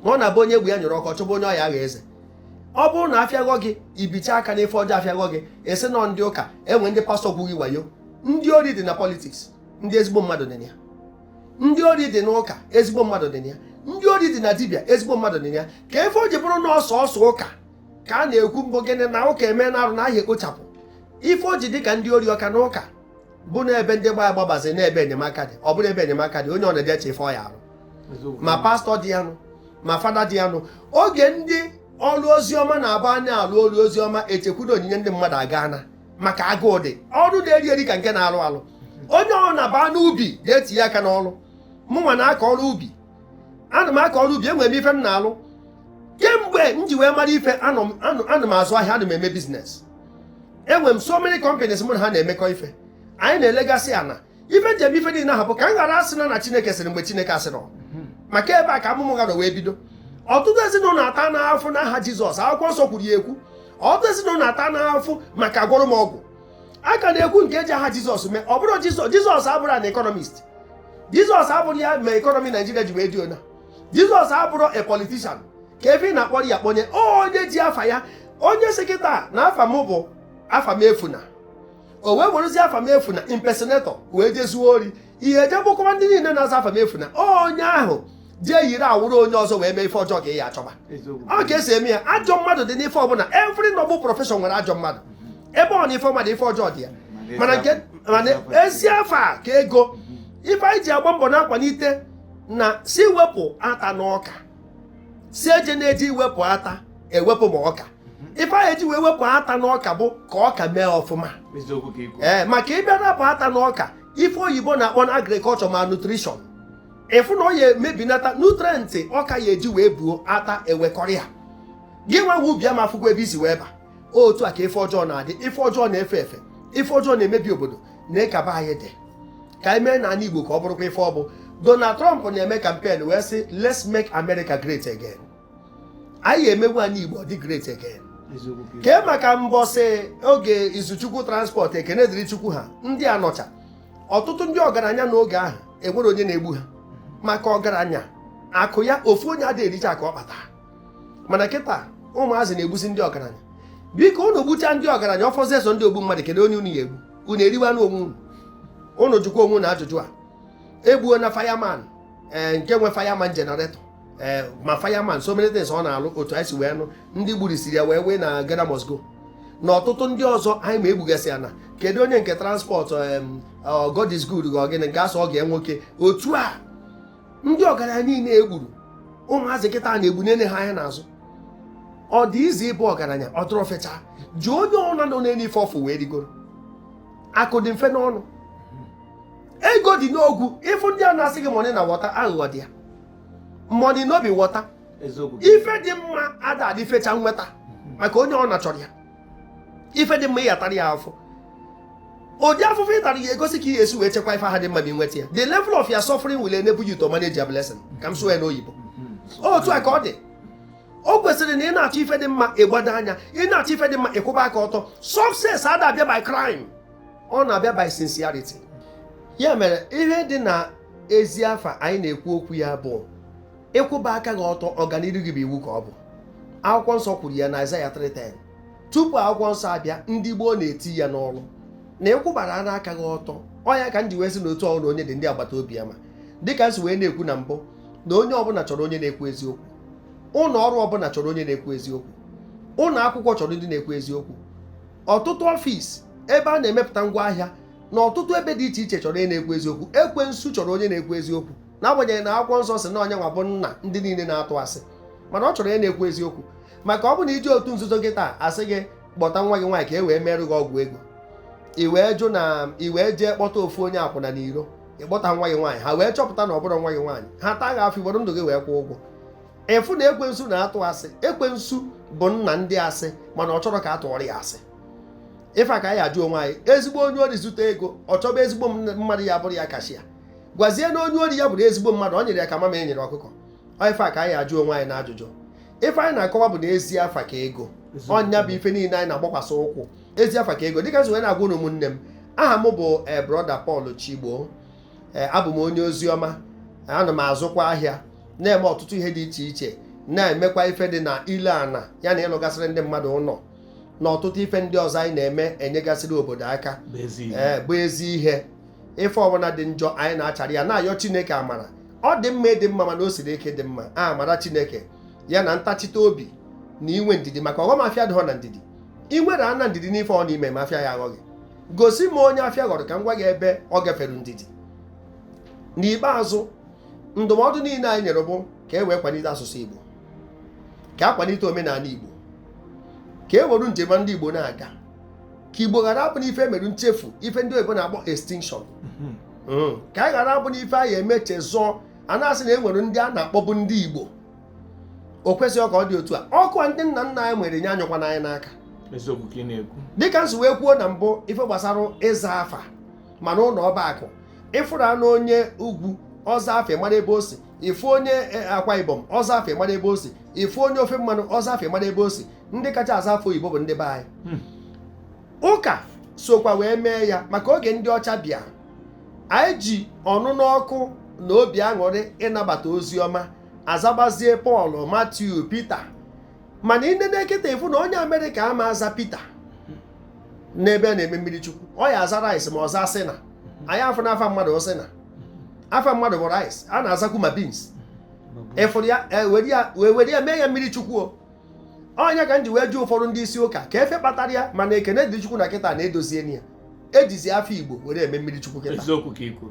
ọ na-abụ onye egwu ya nyụrụ ọkụ chọba onye ọ ya agha eze ọ bụrụ na afịaghọ gị ibicha aka n'ife ọjọọ afịaghọ gị esi nọ ndị ụka enwe ndị pastọ gwughị wayo ndị ori dị na politiks ndị ezigbo mmadụ dị na ya ndị ori dị n'ụka ezigbo mmadụ dị na ya ndị ori dị na dibịa ezigbo mmadụ dị na ya kee ife o ji bụrụ na ọ sọsọ ụka ka a na-ekwu mbụ gịnị na ụka eme na arụ na ahịa ekpochapụ ife o ji dị ka ndị ori ọ ka na ụka bụ na ebe ndị igbo agbabazi na ebe enyemaka dị ọ bụrụ ebe enyemaka dị onye ọ na-eje eche ife ọ ya arụ ma pastọ dị ya nụ ma fada dị ya nụ oge ndị ọrụ ozi ọma na-aba a na-alụ ọrụ ozi ọma echekwudo onyinye ndị mmadụ aga na maka agụụ ndị ọrụ na-eri eri ka nke na-alụ alụ onye ọ na-aba n'ubi ga-etinye aka n'ọrụ mụnwa na-akọ ọrụ ubi ana m akọ ọrụ ubi enwere m ife m na-alụ kemgbe m ji wee mara ife ana m azụ ahịa ana m eme biznes enwere m so many companies mụ na ha na-emekọ ife anyị na-elegasị ana ife njem ife niile ahụ bụ ka m ghara asị na na chineke sịrị mgbe chineke asịrọ maka ebe a ka amụma ụgha wee bido ọtụtụ ezinụlọ ata na afụfụ n'aha jizọs akwụkwọ nsọ kwuru ya ekwu ọtụtụ ezinụlọ ata na afụfụ maka agwọrọ m ọgwụ a ka na-ekwu nke eji aha jizọs mee ọ bụrụ jizọs abụrụ an economist jizọs abụrụ ya ma ekọnọmi naijiria ji wee dị ona jizọs abụrụ a politician kee ife ị na-akpọrọ ya kpọnye onye ji afa ya onye sị kịta na afa m bụ afamefuna o wee werezie afamefuna impersonator wee je zuo ori ị ya eje egbukọwa ndị niile na-aza afamefuna onye ahụ jee yiri awụrụ onye ọzọ wee mee ife ọjọọ ka ị ya achọba ọ ka esi eme ya ajọ mmadụ dị n'ife ọbụla every noble profession nwere ajọ mmadụ ebe ọ na ife ọma dị ife ọjọọ dị ya mana nke mana ezi afa ka ego ife anyị ji agba mbọ na-akwalite na sị wepụ ata n'ọka sị ejena eji iwepụ ata ewepụ ma ọka ife anyị eji wee wepụ ata n'ọka bụ ka ọka mee ọfụma ee maka ị bịa rapụ ata n'ọka ife oyibo na-akpọ na agriculture malnutrition ị fụ na ọ ya emebinata nutrient ọka ya eji wee buo ata ewekọrọ ya gị nwa nwe ubi ama afụkwa ebe i si wee ba otu a ka ife ọjọọ na-adị ife ọjọọ na-efe efe ife ọjọọ na-emebi obodo nee ka be anyị dị ka anyị meenụ ana igbo ka ọ bụrụkwa ife ọ bụ donald trump na-eme kampen wee sị let's make america great again anyị ya emewe ana igbo ọ dị great again kee maka mbọsị oge izuchukwu transport ekene dịrị chukwu ha ndị a nọcha ọtụtụ ndị ọgaranya n'oge ahụ enwere onye na-egbu ha maka ọgaranya akụ ya ofu onye ada ericha akụ ọ kpata mana kịta ụmụazị na-egbusi ndị ọgaranya biko unu gbucha ndị ọgaranya ọ fọzie sọ ndị ogbu mmadụ kedu onye unu ya egbu unu eriwa anụ onwe unu unu jụkwa onwe unu ajụjụ a egbuona firman ee eh, nke nwe firman generator ee eh, ma firman so many things ọ na-alụ otu anyị si wee nụ ndị gburisiri ya wee wee na Ghana must go na ọtụtụ ndị ọzọ anyị ma egbugasị ya na kedu onye nke transport eh, God is good ga ọ gịnị nke asọ ọ ga nwoke otu a ndị ọgaranya niile e gburu ụmụazị kịta na-egbu nene ha anya n'azụ ọ dị easy ịbụ ọgaranya ọ dịrọ fecha jụọ onye ọbụna nọ n'elu ife ọ fụ wee rigoro akụ dị mfe n'ọnụ ego dị n'ogwu ị fụ ndị a na-asị gị money na water aghụghọ dị ya money no be water ife dị mma ada adị fecha nweta maka onye ọbụna chọrọ ya ife dị mma ị ya-atara ya afụfụ ụdị afụfụ ị tara ya-egosi ka ị ga-esi wee chekwa ife ahụ dị mma ma nweta ya the level of your suffering will enable you to manage your blessing ka m sụọ ya n'oyibo otu a ka ọ dị o kwesịrị na ị na-achọ ife dị mma ị gbado anya ị na-achọ ife dị mma ị kwụba aka ọtọ success ada abịa by crime ọ na-abịa by sincerity ya mere ihe dị na ezi afa anyị na-ekwu okwu ya bụ ị kwụba aka gị ọtọ ọganiru gị bụ iwu ka ọ bụ akwụkwọ nsọ kwuru ya na Aịzaya 3:10 tupu akwụkwọ nsọ abịa ndị gboo na-eti ya n'ọrụ na ịkwụbara ara aka gị ọtọ ọ ya ka m ji wee sị na otu ọrụ onye dị ndị agbata obi ya mma dịka m si wee na-ekwu na mbụ na onye ọbụla chọrọ onye na-ekwu eziokwu ụlọ ọrụ ọbụla chọrọ onye na-ekwu eziokwu ụlọ akwụkwọ chọrọ ndị na-ekwu eziokwu ọtụtụ ọfịs ebe a na-emepụta ngwa ahịa na ọtụtụ ebe dị iche iche chọrọ onye na-ekwu eziokwu ekwensu chọrọ onye na-ekwu eziokwu n'agbanyeghị na akwụkwọ nsọ sị na nya nwa bụ nna ndị niile na-atụ asị mana ọ chọrọ onye na-ekwu eziokwu maka ọ bụ na i jee otu nzuzo gị taa a sị gị kpọta nwa gị nwaanyị ka e wee merụ gị ọgwụ ego i wee jụ na i wee jee kpọta ofu onye akwụna n'iro ịkpọta nwa gị nwaanyị ha wee chọpụta na ọ bụrọ nwa gị nwaanyị ha taa gị afụfụ i woro ndụ gị wee kwụọ ụgwọ ị fụ na ekwensu na-atụ asị ekwensu bụ nna ndị asị mana ọ chọrọ ka a tụọrọ ya asị ife a ka anyị ajụ onwe anyị ezigbo onye ori zute ego ọ chọba ezigbo mmadụ ya-abụrụ ya cashier gwazie na onye ori ya bụrụ ezigbo mmadụ ọ nyịrị ya ka mamịrị nyịrị ọkụkọ ife a ka anyị ajụ onwe anyị na ajụjụ ife anyị na-akọwa bụ na ezi afa ka ego ọ ya bụ ife niile anyị na-agbakwasị ụkwụ ezi afa ka ego dịka m si wee na-agwa ụmụnne m aha m bụ eh, brọda Paul Chigbo eh, abụ m onye ozi ọma ana m azụkwa ahịa na-eme ọtụtụ ihe dị iche iche na-emekwa ife dị na ile ana ya na ịlụgasịrị ndị mmadụ ụlọ na ọtụtụ ife ndị ọzọ anyị na-eme enyegasịrị obodo aka bụ ezi eh, ihe ife ọbụla dị njọ anyị na-achara ya na-ayọ chineke amara ọ dị mma ịdị mma mana o siri ike ịdị mma amara chineke ya na ntachite obi na inwe ndidi maka ọghọm afịa adịghọ na ndidi ị nwere ana ndidi n'ife ị na-eme ma afịa ya-aghọ gị gosi m onye afịa ghọrọ ka m gwa gị ebe ọ gafere ndidi n'ikpeazụ ndụmọdụ niile anyị nyere bụ ka e wee kwalite asụsụ Igbo ka a kwalite omenala Igbo ka e were njem ndị Igbo na-aga ka igbo ghara abụ na ife mere nchefu ife ndị oyibo na-akpọ extinction mhm. hmm. ka anyị ghara abụ na ife a ya-emeche zụọ a na-asị na e nwere ndị a na-akpọbụ ndị igbo o kwesịghị ka ọ dị otu a ọkụ a ndị nna nna anyị were nye anyụkwana anyị n'aka dịka m si wee kwuo na mbụ ife gbasara ịza afa ma na ụlọ ọba akụ ịfụrụ na onye ugwu ọ zaa afa ịmara ebe o si ịfụ onye e, akwa ibom ọ zaa afa ịmara ebe o si ịfụ onye ofe mmanụ ọ zaa afa ịmara ebe o si ndị kacha aza afa oyibo bụ ndị be anyị hmm. ụka sokwa wee mee ya maka oge ndị ọcha bịa anyị ji ọnụnụ ọkụ na obi aṅụrị ịnabata ozi ọma azabazie pọl matiu pita mana ị nene kịta ịfụ na onye amerịka ama aza pita n'ebe a na-eme mmiri chukwu ọ ya aza rice ma ọ zaa sị na anyị afụ n'afa mmadụ ọ sị na afa mmadụ bụ rice a na-azakwu ma beans ịfụrụ ya e, were ya mee ya mmiri chukwu o ọ nya ka m ji wee jụ ụfọdụ ndị isi ụka ka ife kpatara ya mana ekene dịrị chukwu na kịta a na-edozi ya ejizi afa igbo were eme mmiri chukwu kịta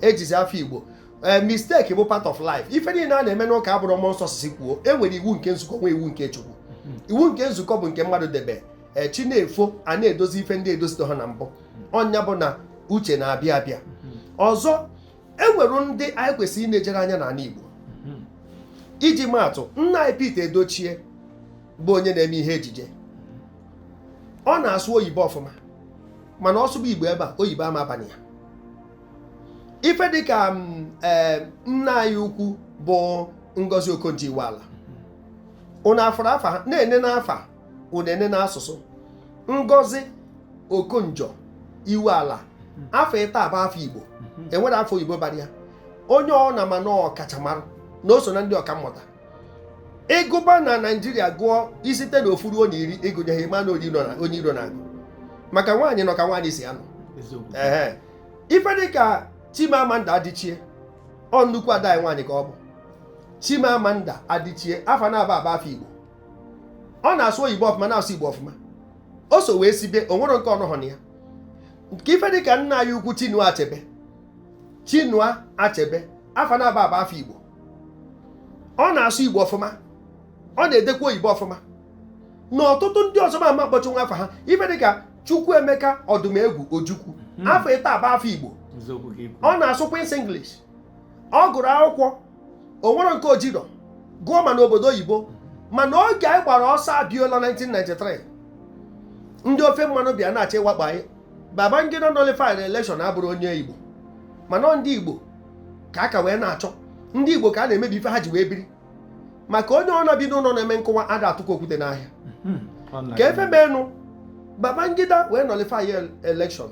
ejizi afa igbo ee eh, mistake bụ part of life ife niile a na-eme n'ụka abụrọ mmụọ nsọ sị kwuo e nwere iwu nke nzukọ nwee iwu nke chukwu mm-hmm. iwu nke nzukọ bụ nke mmadụ debe eh, chi na-efo a na-edozi ife ndị edozitaha na mbụ ọ nya bụ na uche na-abịa abịa mm-hmm. ọzọ e nwere ndị anyị kwesịrị ịna-ejere anya n'ala Igbo hmm. iji maatụ nna anyị Pete Edochie bụ onye na-eme ihe ejije ọ na-asụ oyibo ọfụma mana ọ sụba Igbo ebe a oyibo ama aba na ya ife dịka mm, eh, nne anyị ukwu bụ Ngozi Okonjo-Iweala ụnụ afụrụ afa na-ene n'afa unu nene n'asụsụ ngozi okonjo-iweala afa ịtọ a bụ afa igbo enwerọ afa oyibo bara ya onye ọ na ma na ọkachamara na o so na ndị ọka mmụta ịgụba na naijiria gụọ isite na ofu ruo onye iri ịgụnyeghị ma na onye iro na-agụ maka nwaanyị nọ ka nwaanyị si anọ ee ife dịka chimamanda adichie ọ nnukwu ada nwaanyị ka ọ bụ chimamanda adichie afa naabọ a bụ afa igbo ọ na-asụ oyibo ọfụma na-asụ igbo ọfụma o so wee sibe o nwerọ nke ọ nọhọ na ya nke ife dịka nna anyị ukwu chinua achebe chinua achebe afa naabọ a bụ afa igbo ọ na-asụ igbo ọfụma ọ na-edekwa oyibo ọfụma na ọtụtụ ndị ọzọ m ama akpọchanwu afa ha ife dịka chukwuemeka odumegwu ojukwu hmm. afa ịtọ a bụ afa igbo ọ na-asụ queen's english ọ gụrụ akwụkwọ o nwere nke o jere gụọ ma n'obodo oyibo mana oge anyị gbara ọsọ Abiola 1993 ndị ofe mmanụ bịa na-achọ ịwakpo anyị Babangida nullifyrị election abụrọ onye Igbo mana ndị Igbo ka aka wee na-achọ ndị Igbo ka a na-emebi ife ha ji wee biri maka onye ọ na bi n'ụlọ na-eme nkụwa ada atụkwa okwute n'ahịa hmm, ka ife meenụ Babangida wee nullify election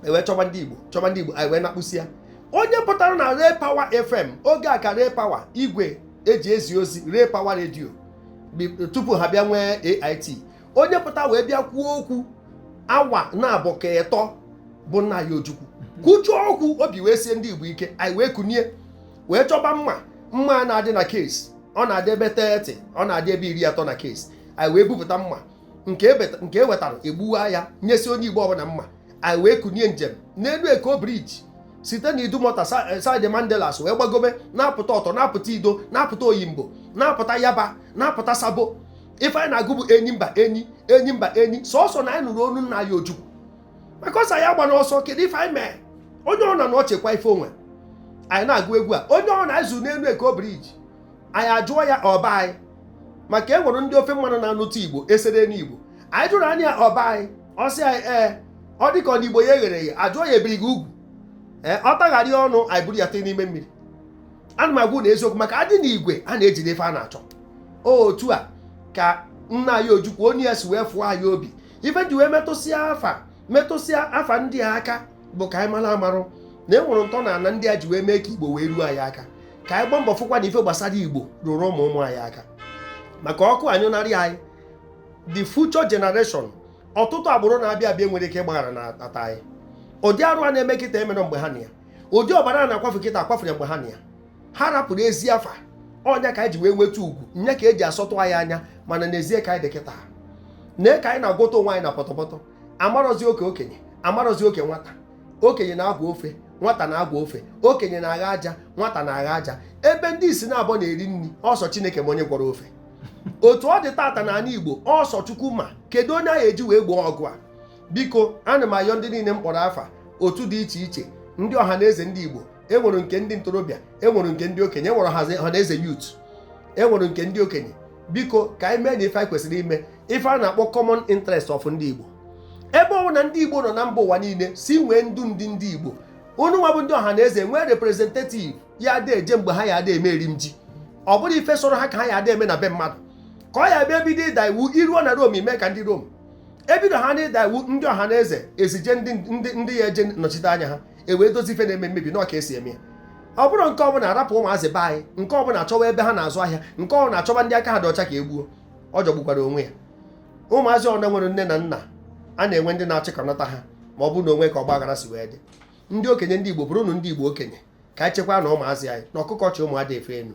e wee chọba ndị igbo chọba ndị igbo anyị wee nakpusịa onye pụtara na Ray Power FM oge a ka Ray Power igwe eji ezi ozi Ray Power redio tupu ha bịa nwee AIT onye pụta wee bịa kwuo okwu awa naabọ ka ịtọ bụ nna anyị Ojukwu kwuchaa okwu obi wee sie ndị Igbo ike anyị wee kunie wee chọba mma mma na-adị na case ọ na-adị ebe 30 ọ na-adị ebe iri atọ na case anyị wee bupụta mma nke e wetara e gbuwaa ya nyesịa onye igbo ọbụla mma anyị wee kunie njem n'elu Eko Bridge site na Idumota eh, side Mandilas wee gbagobe na-apụta Otto na-apụta Iddo na-apụta Oyingbo na-apụta Yaba na-apụta Sabo ife anyị na-agụ bụ enyi mba enyi enyi mba enyi sọsọ na anyị nụrụ onu nna anyị Ojukwu maka ọ sị anyị agbana ọsọ kedu ife anyị mee onye ọ na nọ chekwa ife o nwe anyị na-agụ egwu a onye ọ na anyị zu n'elu Eko Bridge anyị ajụọ ya ọ bụ anyị maka e nwere ndị ofe mmanụ na-anụta igbo esere n'igbo anyị jụrụ onye a ọ bụ anyị ọ sị anyị ee ọ dịka ọ na igbo ya egherọ eghe a jụọ ya e biri gị ugwu ee ọ tagharịa ọnụ anyị buru ya tụa n'ime mmiri ana m agwa unu eziokwu maka a dị n'igwe a na-eji n'ife a na-achọ otu a ka nna anyị Ojukwu onwe ya si wee fụọ anyị obi ife ji wee metụsịa afa metụsịa afa ndị a aka bụ ka anyị mara amara na e nwere ntọ n'ana ndị a ji wee mee ka igbo wee ruo anyị aka ka anyị gbaa mbọ fụkwa na ife gbasara igbo ruru ụmụ ụmụ anyị aka maka ọkụ anyụnarị anyị the future generation ọtụtụ agbụrụ na-abịa abịa nwere ike ịgbaghara na ata anyị ụdị arụ a na-eme kịta emerọ mgbe ha nọ ya ụdị ọbara a na-akwafu kịta akwafurọ mgbe ha nọ ya ha rapụrụ ezi afa ọ nya ka anyị ji wee nweta ugwu nya ka eji asọtụ anyị anya mana n'ezie ka anyị dị kịta na ka anyị na-agwọtọ onwe anyị na pọtọpọtọ amarọzi oke okenye amarọzi oke nwata okenye na-agwọ ofe nwata na-agwọ ofe okenye na-agha aja nwata na-agha aja ebe ndị isi naabọ na-eri nri ọ sọ Chineke ma onye gwọrọ ofe otu ọ dị tata n'ala igbo ọ sọ Chukwu ma kedu onye a ya-eji wee gboo ọgụ a biko ana m ayọ ndị niile m kpọrọ afa otu dị iche iche ndị Ọhaneze ndị igbo enwere nke ndị ntorobịa enwere nke ndị okenye enwere Ọhaneze youth enwere nke ndị okenye biko ka anyị meenụ ife anyị kwesịrị ime ife a na-akpọ common interest of ndị Igbo ebe ọ na ndị Igbo nọ na mba ụwa niile si nwee ndu ndị ndị Igbo unu nwa bụ ndị Ọhaneze nwee representative ya ada eje mgbe ha ya ada eme eri m ji ọ bụrụ ife sọrọ ha ka ha ya ada eme na be mmadụ ka ọ ya bịa ebido ịda iwu i ruo na Rome i mee ka ndị Rome ebido ha na ịda iwu ndị Ọhaneze ezije ndị ya-eje nọchite anya ha e wee dozi ife na-eme mmebi na ọ ka e si eme ya ọ bụrụ nke ọ bụ na arapụ ụmụazị be anyị nke ọ bụ na achọwa ebe ha na-azụ ahịa nke ọ bụ na achọba ndị aka ha dị ọcha ka e gbuo ọ jọgbukwara onwe ya ụmụazị ọna nwere nne na nna a na-enwe ndị na-achịkọnata ha ma ọ bụ na o nwe ka ọgba aghara si wee dị ndị okenye ndị Igbo bụrụnụ ndị Igbo okenye ka anyị chekwaanụ ụmụazị anyị na ọkụkọ chị ụmụ ada efe enu